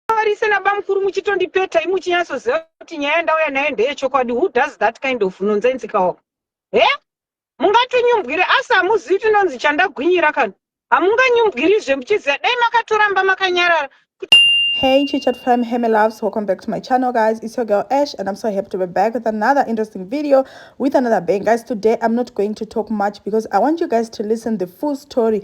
Varise nabamukuru muchitondipeta imu chinyatsoziva kuti nyaya yandauya nayo ndeyechokwadi who does that kind of nonsense kawo he mungatinyumbwire asi hamuzivi kuti nonzi chandagwinyira kana hamunganyumbwirizve muchiziva dai makatoramba makanyarara Hey chichat fam, hey my loves, welcome back to my channel guys, it's your girl Ash and I'm so happy to be back with another interesting video with another bang. Guys today I'm not going to talk much because I want you guys to listen the full story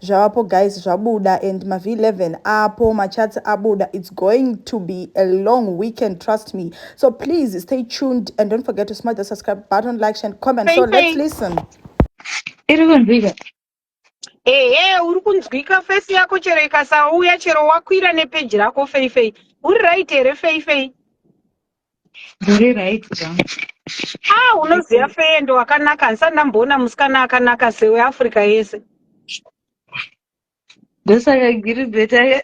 Zvavapo guys zvabuda and ma V11 apo ma charts abuda it's going to be a long weekend trust me so please stay tuned and don't forget to smash the subscribe button like share and comment so let's listen iri kunzwika ehe uri kunzwika face yako chero ikasauya chero wakwira nepeji rako feifei uri right here feifei Muri right zvangu. Ah, unoziva feye ndo wakanaka handisati ndamboona musikana akanaka sewe Africa yese. Ndosaka giri beta ye.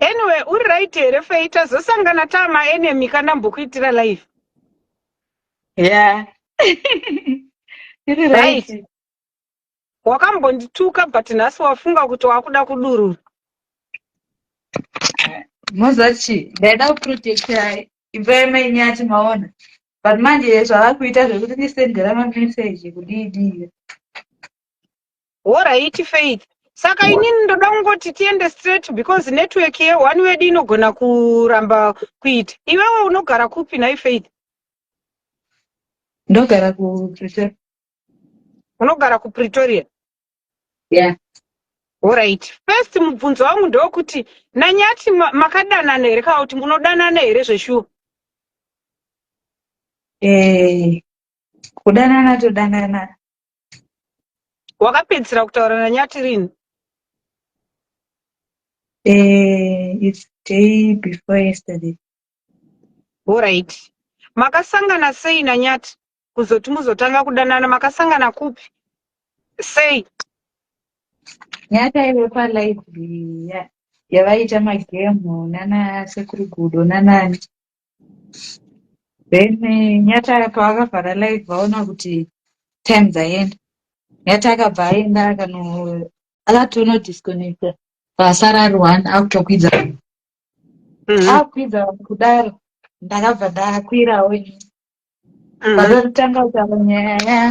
anyway, uri right here feye tazosangana tama enemy kana mbokuitira live. Yeah. Iri right. right. wakambondituka but nhasi wafunga kuti wakuda kudurura moziva chii ndaida kuprotecta imba yamai nyati maona but manje zvava kuita zvekuti ndisendera mameseji kudiidii horaiti faith saka inini ndoda kungoti tiende straight because network ye one wedu inogona kuramba kuita iwewe unogara kupi nhai faith ndogara kupretoria unogara kupretoria yeah Alright. First mubvunzo wangu ndokuti nanyati makadanana here kana kuti munodanana here zveshuwa? Eh, kudanana todanana. Wakapedzisira kutaura nanyati rini? Eh, it's day before yesterday. Alright. Makasangana sei nanyati? kuzoti muzotanga kudanana makasangana kupi sei nyataive palibrary ya- yavaiita magemu nana sekuru gudo nanani then eh, nyata pavakavhara live vaona kuti time dzaenda nyata akabva aenda akano akatono disconnecta pasara ari one akutokwidza Mhm. akukwidza kudaro ndakabva ndakwirawo ini Mhm. Vakatanga kutaura nyaya yaya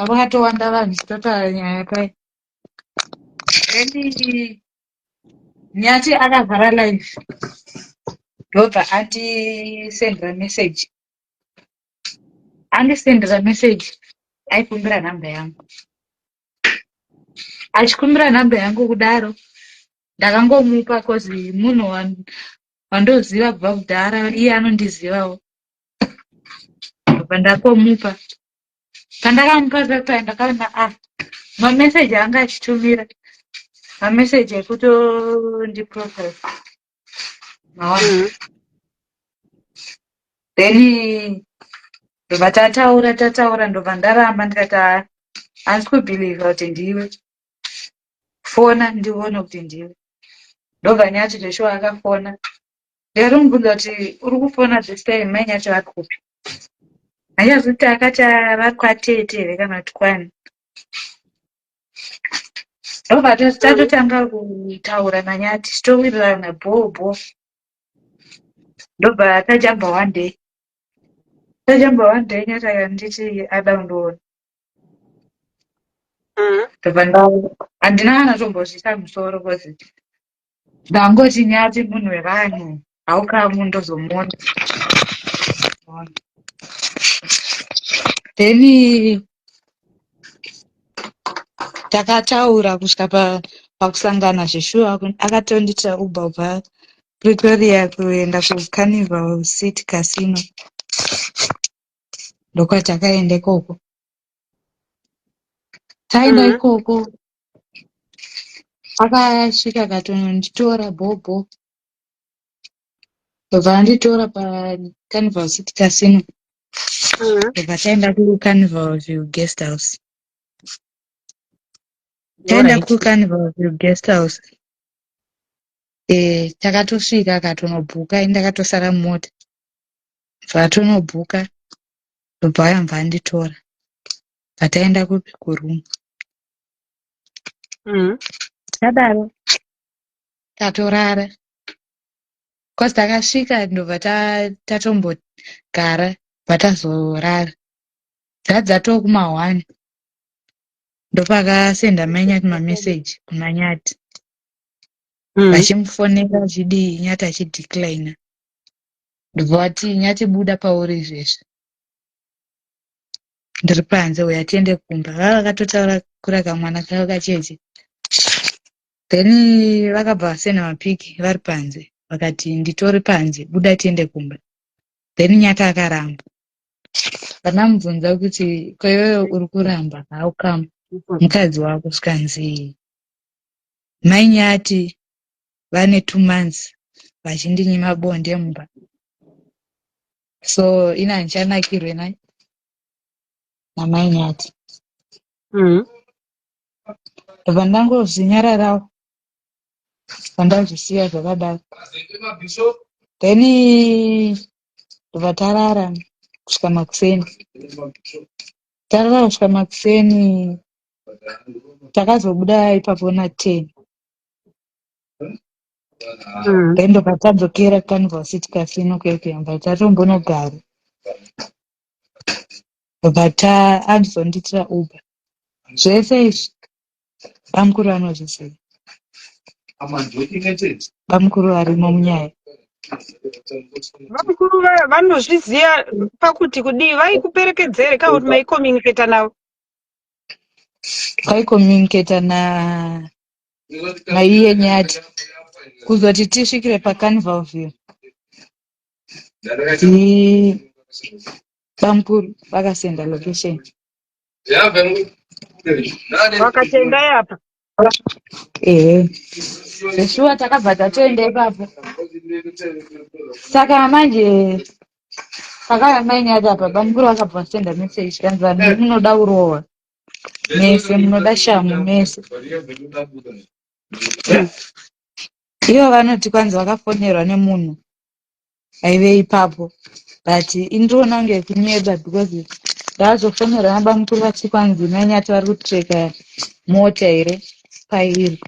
vakatowanda vanhu chitotaura nyaya pai then nyati akavhara live ndobva andisendera message andisendera message aikumbira nhamba yangu achikumbira nhamba yangu kudaro ndakangomupa cause munhu wan- wandoziva kubva kudhara iye anondizivawo apa ndakomupa pandakamupa zvakaya ndakaona a ah, mameseji anga achitumira mameseji ekutondiprofil maona mm -hmm. then ndobva tataura tataura ndobva ndaramba ndikati haa handisi kubhilivha kuti ndiwe fona ndione kuti ndiwe ndobva nyati zveshuwa akafona Ndarumbudzo kuti uri kufona this time mai nyathi vari kupi hanyazi kuti akati vari kwatete here kana kuti kwani ndobva tatotanga kutaura nanyathi titowirirana bhoo bhoo ndobva tajamba one day tajamba one day nyathi akanditi ada kundoona mm-hmm. ndobva handina kana tombozvisa musoro bcause Ndangoti nyati munhu wevanhu haukamu ndozomuona then takataura kusvika pakusangana zveshuwa akatondiitira uba ubva pretoria kuenda kucarnival city casino ndokwatakaenda ikoko taenda mm-hmm. ikoko akasvika akatononditora bhobho ndobva anditora pacarnival city casino mm-hmm. ndobva taenda kucarnival view guest house taenda kucarnival view guest house eh, takatosvika akatonobhuka ini ndakatosara mumota zvatonobhuka ndobva ayambva anditora bva taenda kupi kuroom mm. takadaro tatorara bcause takasvika ndobva tatombogara bva tazorara dzaa dzatoo kuma one ndopakasenda manyati mameseji kuna nyati mm. vachimufonera achidii nyati achideclina ndobva vati nyati buda pauri izvezvi ndiri panze uya tiende kumba vava vakatotaura kura kamwana kavo kacheche then vakabva vasena mapiki vari panze vakati nditori panze buda tiende kumba then nyaka akaramba vanamubvunza kuti kweyoyo uri kuramba haukama mukadzi wako zvikanzii mai nyati vane two months vachindinyima bonde mumba so ini handichanakirwe na namai nyati mm. ndobva ndangozvinyararawo pandazvisiya zvakadaro then ndobva tarara kusvika makuseni tarara kusvika makuseni takazobuda ipapo na ten mm. endo patadzokera canvas tikasino kuekuyam but atombonogara but uh, andizondiitira uber zvese izvi bamukuru anozviziva bamukuru varimo munyaya vakuru vaya vanozviziva pakuti kudii vaikuperekedzere ka kuti maicommunicata navo vaicommunicata na maiye nyati kuzoti tisvikire pacarnival view bamkuru vakasenda location vakatenda yapa ehe zveshuwa takabva tatoenda ipapo saka manje pakaya mainyati apa bamkuru vakabva vasenda message kanzi vanhu munoda kurohwa mese munoda shamhu mese ivo vanoti kwanzi vakafonerwa nemunhu aive ipapo but indriona kunge kunyeba because ndaazofonerwa nabamukuru vati kwanzi nanyati vari kutreka mota here pairi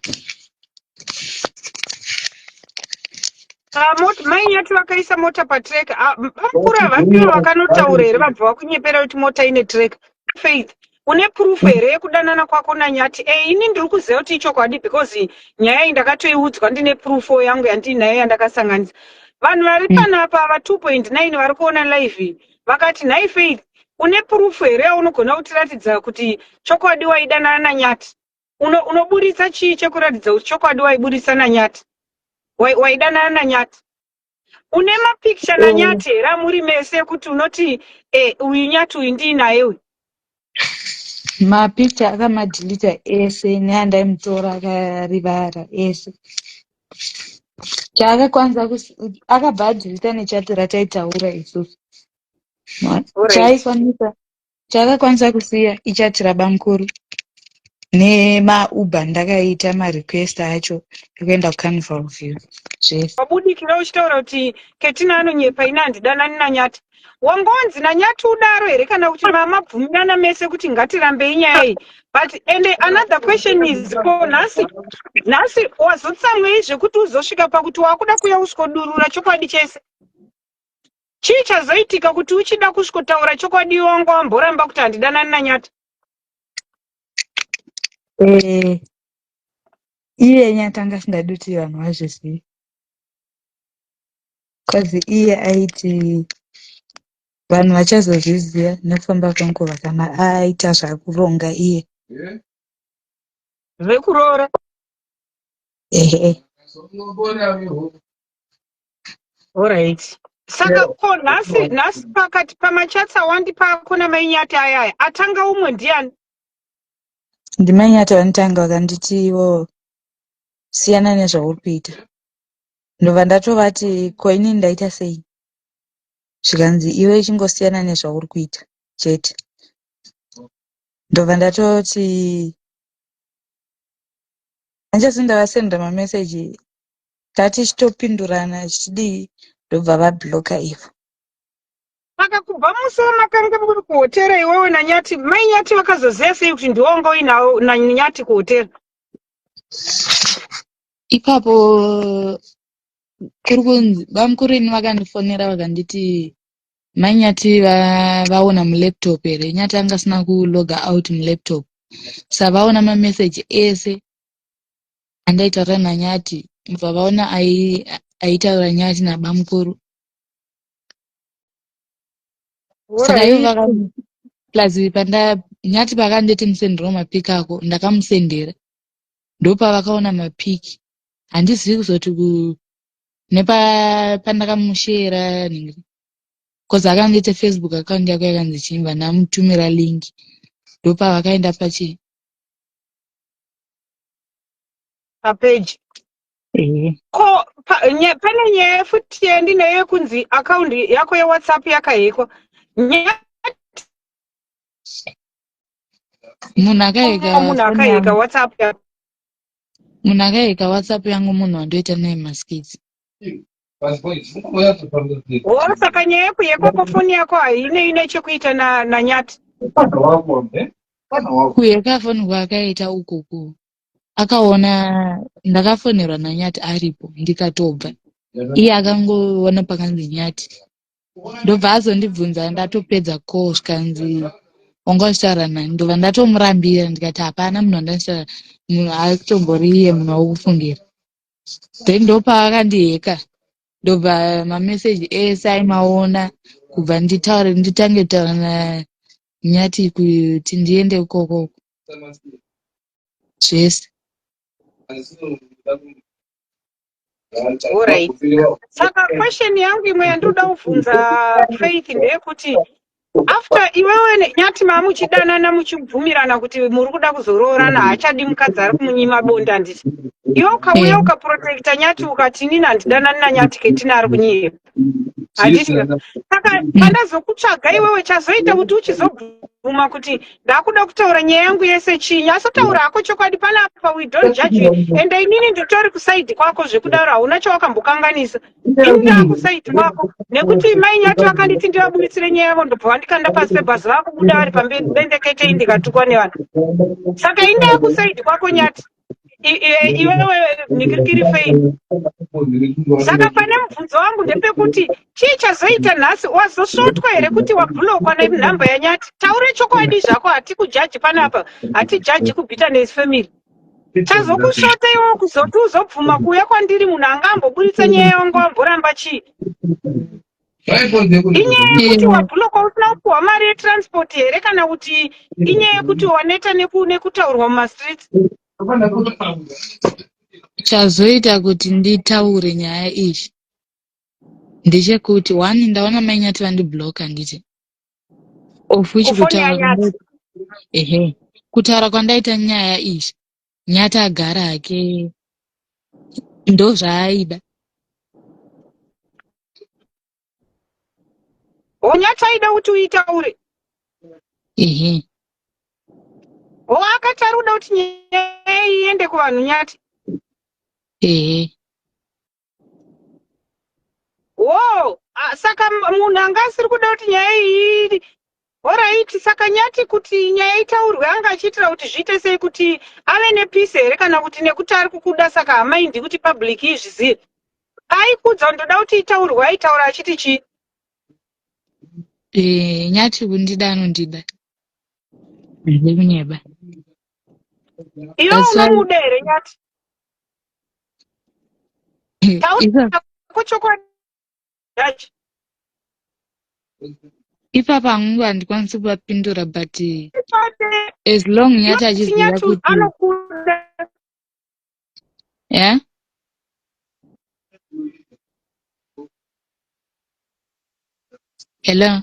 Ah, mai nyati vakaisa mota patrek ah, bamukuru havapiro vakanotaura here vabva vakunyepera kuti mota ine trek faith une proof mm. here yekudanana kwako nanyati e ini ndiri kuziva kuti ichokwadi because nyaya iyi ndakatoiudzwa ndine proof yangu yandiinayo yandakasanganisa vanhu vari mm. panapa va 2.9 vari kuona live vakati nhai faith une proof here yaunogona kutiratidza kuti chokwadi waidanana nanyati unoburitsa chii chekuratidza kuti chokwadi waiburitsa nanyati waidanana nanyati une mapicture na nyati here amuri mese ekuti unoti eh, uyu nyati uyu ndiinaye uyu mapicture akamadhilita ese neandaimutora akarivara ese chaakakwanisa akabva adhilita nechati rataitaura isusu chaikwanisa Chakakwanisa kusiya ichati rabamkuru nemauber ndakaita marequest acho ekuenda kucarnival view zvese wabudikira uchitaura kuti ketina anonyepa ini handidanani nanyati wangonzi nanyati udaro here kana kuti mamabvumirana mese kuti ngatirambei nyaya iyi but and another question is ko nhasi nhasi wazotsamwei zvekuti uzosvika pakuti wakuda kuya usiko durura chokwadi chese Chii chazoitika kuti uchida kusvikotaura chokwadi wanga wamboramba kuti handidanani naNyata? Eh, iye Nyata anga asingadi kuti vanhu vazvizive. Cause iye aiti vanhu vachazozviziva nekufamba kwenguva kana aita zvakuronga iye. Zvekuroora? Ehe. Alright. Saka ko nhasi nhasi pakati pamachats awandi pako namainyati ayaya atanga umwe ndiani? Ndimainyati vanotanga vakanditi ivo siyana nezvauri kuita. Ndobva ndatovati ko inini ndaita sei? Zvikanzi iwe ichingosiyana nezvauri kuita chete. Ndobva ndatoti hanjasi ndavasendera mameseji tati chitopindurana chidii ndobva vabloka ivo saka kubva musi wamakange muri kuhotera iwewe nanyati mai nyati vakazoziva sei kuti ndiwo wanga uinawo nanyati kuhotera ipapo kuri kunzi bamukuru ini vakandifonera vakanditi mai nyati va- vaona mulaptop here nyati anga asina kuloga out mulaptop savaona mameseji ese andaitaura nanyati mva vaona aitaura nyati nabamukuru saka ivo vaka plus panda nyati pakanditi musendero mapiki ako ndakamusendera ndopavakaona mapiki handizivi kuzoti ku nepandakamushera nhingi bcause akandiita facebook account yako yakanzi chimba ndamutumira link ndopavakaenda pachii papeji eh. ko pa, nye, pane nyaya futi yandinayo yekunzi akaundi yako yewhatsapp yakahekwa nyaya munhu akaheka munhu akaheka whatsapp munhu akaheka whatsapp yangu munhu wandoita naye maskits Wo saka nyaya yako yekoko foni yako haine ine chekuita na nanyati. kuyeka foni kwaakaita ukoko akaona ndakafonerwa nanyati aripo ndikatobva iye akangoona pakanzi nyati ndobva azondibvunza ndatopedza ko zvikanzi wanga uchitaura nani ndobva ndatomurambira ndikati hapana munhu wandanditaura munhu akutombori iye munhu wakufungira then ndopaakandiheka ndobva mameseji ese aimaona kubva nditaure nditange taura nanyati kuti ndiende ukoko zvese Alright. Saka question yangu imwe yandinoda kuvhunza Faith ndeyekuti after iwewe ne- nyati mamuchidanana muchibvumirana kuti muri kuda kuzoroorana haachadi mukadzi ari kumunyima bonde handiti iwe ukauya Eh. ukaprotecta nyati ukati inini handidanani nanyati ketina ari kunyepa handiti saka pandazokutsvaga iwewe chazoita kuti uchizobvuma kuti ndakuda kutaura nyaya yangu yese chinyi asotaura hako chokwadi panapa we don't judge you and inini nditori kusaidi kwako zvekudaro hauna chawakambokanganisa indaa kusaiti wako nekuti mai nyato akanditi ndivabuditsire nyaya yavo ndobva vandikanda pasi pebhazi vakubuda vari pamberi bendeketei ndikatukwa nevanhu saka indaa kusaiti kwako nyati iwewe nikirikiri fei saka pane mubvunzo wangu ndepekuti chii chazoita nhasi wazosvotwa here kuti wabhulokwa nenhamba yanyati taure chokwadi zvako hatikujaji panapa hatijaji kubhita nes family Chazokushota iwo kuzoti uzobvuma kuuya kwandiri munhu anga amboburitsa nyaya yawanga wamboramba chii? Inyaya yekuti wabhuloka usina kupuhwa mari yetransport here kana kuti inyaya yekuti waneta neku- nekutaurwa mumastreets? chazoita kuti nditaure nyaya iyi ndechekuti one ndaona mainyati vandiblock handiti of which Kufoni kutaura yanyati. kwandaita ehe kutaura kwandaita nyaya izvi nyati agara hake ndozvaaida Onyati aida kuti uitaure. ehe Ho akati ari kuda kuti nyaya iyi iende kuvanhu nyati. ehe wo saka munhu anga asiri kuda kuti nyaya iyi horaiti saka nyati kuti nyaya itaurwe anga achiitira kuti zviite sei kuti ave nepisi here kana kuti nekuti ari kukuda saka hamaindi kuti public izvizive aikudza kuti ndoda kuti itaurwe aitaura achiti chii eh, nyati kundida anondida ndide kunyeba iwe unomuda here nyati ipapa hangu handikwanisi kuvapindura but as long nyati achiziva kuti yeah? hello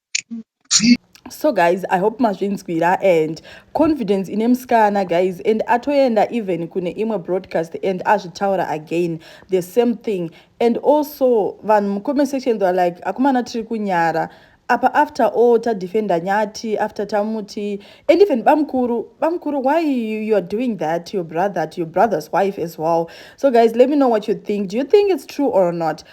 so guys i hope mazvinzwira and confidence ine musikana guys and atoenda even kune imwe broadcast and azvitaura again the same thing and also vanhu mucomment section theyare like akomana tiri kunyara apa after all tadefenda nyati after tamuti and even bamkuru bamkuru why you, you are doing that to your brother to your brother's wife as well so guys let me know what you think do you think it's true or not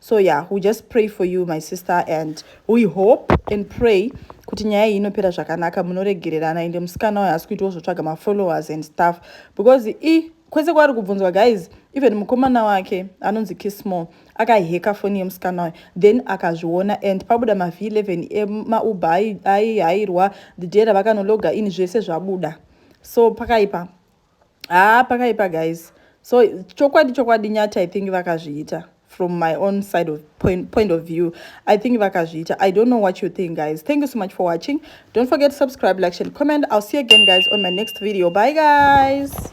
so yeah we just pray for you my sister and we hope and pray kuti nyaya iyi inopera zvakanaka munoregererana ende musikana wayo asi kuitiwo zvotsvaga mafollowers and stuff because i kwese kwaari kubvunzwa guys even mukomana wake anonzi kismall akaheka foni yemusikana wayo then akazviona and pabuda mavhi 11 emauba aihairwa the day ravakanologa ini zvese zvabuda so pakaipa haa ah, pakaipa guys so chokwadi chokwadi nyati i think vakazviita from my own side of point, point of view i think vakazviita i don't know what you think guys thank you so much for watching don't forget to subscribe like share and comment i'll see you again guys on my next video bye guys